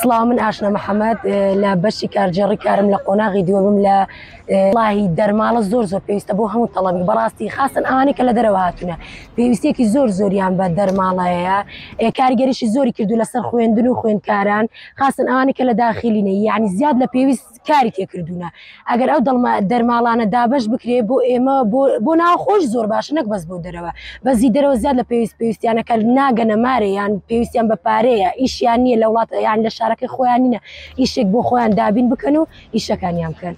سڵاو من ئاشنا محەممەد لە بەشی کارجێڕی کارم لە قۆناغی دووەبم لە ڵاهی دەرماڵە زۆر زۆر پێویستە بۆ هەموو تەڵەبی بەڕاستی خاستن ئەوانی کە لە دەرەوە هاتوونە پێویستێکی زۆر زۆریان بە دەرماڵەیە کارگەریشی زۆری کردو لەسەر خوێندن و خوێندکاران خاستن ئەوانی کە لە داخلینە یعنی زیاد لە پێویست کاری تێکردوونە ئەگەر ئەو دەرماڵانە دابش بکرێ بۆ ئێمە بۆ ناوخۆش زۆر باش نەک بەس بۆ دەرەوە بەزی دەرەوە زیاد لە پێویست پێویستیانەکە ناگەنە مارەیان پێویستیان بە پارەیە ئیشیان نییە لە وڵاتە یان لە شارەکەی خۆیان نینە ئیشێک بۆ خۆیان دابین بکەن و ئیشەکانیان بکەن.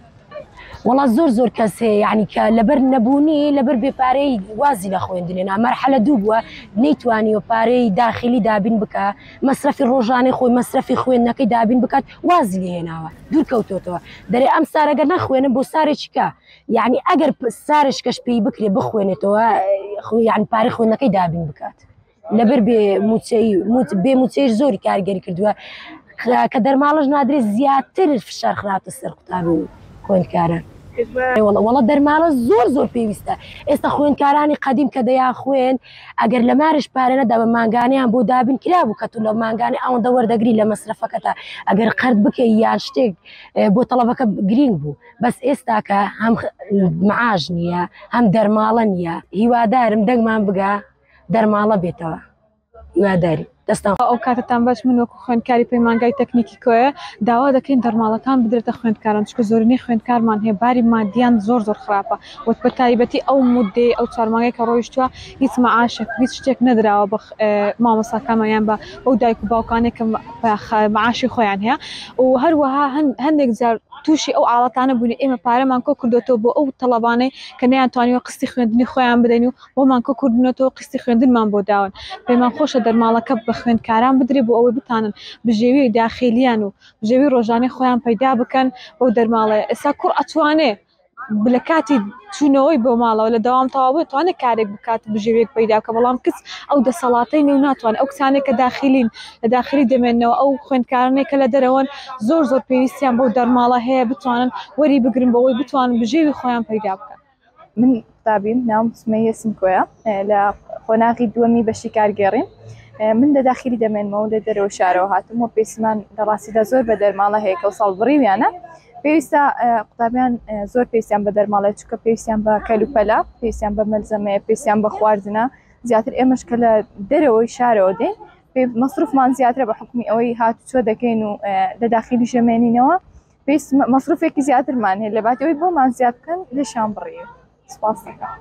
وڵا زۆر زۆر کەس هەیە یعنی کە لەبەر نەبوونی لەبەر بێپارەی وازی لە خوێندنێ نامەرحەلە دوو بووە نەیتوانی و پارەی داخلی دابین بکە مەسرفی ڕۆژانەی خۆی مەسرفی خوێندنەکەی دابین بکات وازی لێ هێناوە دوور کەوتۆتەوە دەرێ ئەم سارەگە نەخوێنم بۆ سارێکیکە یعنی ئەگەر سارشکەش پێی بکرێ بخوێنێتەوە یان پارە خوێنەکەی دابین بکات لەبەر بێ موچەی بێ موچەی زۆری کارگەری کردووە کە دەرماڵش نادرێ زیاتر فشار خراپە سەر قوتاب و خوێندکارە وڵە دەرماڵە زۆر زۆر پێویستە ئێستا خوێندکارانی قدیم کە دەیان خوێن ئەگەر لە مارش پارە نەدا بە مانگانیان بۆ دابین کرابوو کە تو لە مانگانی ئەوەندە وەردەگری لە مەسرفەکەتە ئەگەر قەرد بکەی یان شتێک بۆ تەڵەبەکە گرینگ بوو بەس ئێستاکە هەم معاش نییە هەم دەرماڵە نییە هیوادارم دەنگمان بگا دەرماڵە بێتەوە هیواداری دەستان خۆش. ئەو کاتەتان باش من وەکو خوێندکاری پەیمانگای تەکنیکی کۆیە داوا دەکەین دەرماڵەکان بدرێتە خوێندکاران چونکە زۆرینەی خوێندکارمان هەیە باری مادیان زۆر زۆر خراپە وە بەتایبەتی ئەو مودەی ئەو چوار مانگەی کە ڕۆیشتوە هیچ مەعاشێک و هیچ شتێک نەدراوە بە مامۆستاکانمان یان بە ئەو دایک و باوکانێک کە مەعاشی خۆیان هەیە و هەروەها هەندێک جار تووشی ئەو ئاڵاتانە بوونی ئێمە پارەمان کۆ کردوێتەوە بۆ ئەو تەڵەبانەی کە نەیانتوانیوە قستی خوێندنی خۆیان بدەین و بۆمان کە کورد بنەتەوە قستی خوێندنمان بۆ داون پێمان خۆشە دەرماڵەکە بە خوێندکاران بدرێ بۆ ئەوەی بتانن بژێوی داخێلیان و بژێوی ڕۆژانەی خۆیان پەیدا بکەن بۆ دەرماڵەیە ئێستا کوڕ ئەتوانێ لە کاتی چوونەوەی بۆ ماڵەوە لە داوام تەواوە توانێت کارێک بکات بژێوێک پەیدا کە بەڵام کچ ئەو دەسەڵاتەی نێو ناتوان ئەو کچانێک کە داخلین لە داخلی دەمێنەوە ئەو خوێندکارانێک کە لە دەرەوەن زۆر زۆر پێویستیان بۆ دەرماڵە هەیە بتوانن وەری بگرن بۆەوەی بتوانن بژێوی خۆیان پەیدا بکەن من قوتابیم ناوم سمەیە سمکۆیە لە قۆناغی دووەمی بەشی کارگێڕیم من لە داخلی دەمێنمەوە و لە دەرەوە شارەوە هاتم و پێسمان لە ڕاستیدا زۆر بە دەرماڵە هەیە کە ساڵ بڕیویانە پێویستە قوتابیان زۆر پێسیان بە دەرماڵێت چکە پێویستیان بە کەلوپەلا پێسیان بە مەلزەمەیە پێسیان بە خواردنە زیاتر ئێمەش کە لە دەرەوەی شارەوە دێ مەصرفمان زیاترە بە حکومی ئەوەی هات چۆ دەکەین و لە داخلی ژەمێنینەوە پێویست مەسروفێکی زیاترمان هەیە لە باتەوەی بۆمان زیاد بکەن لێشان بڕی سپاس دەکەم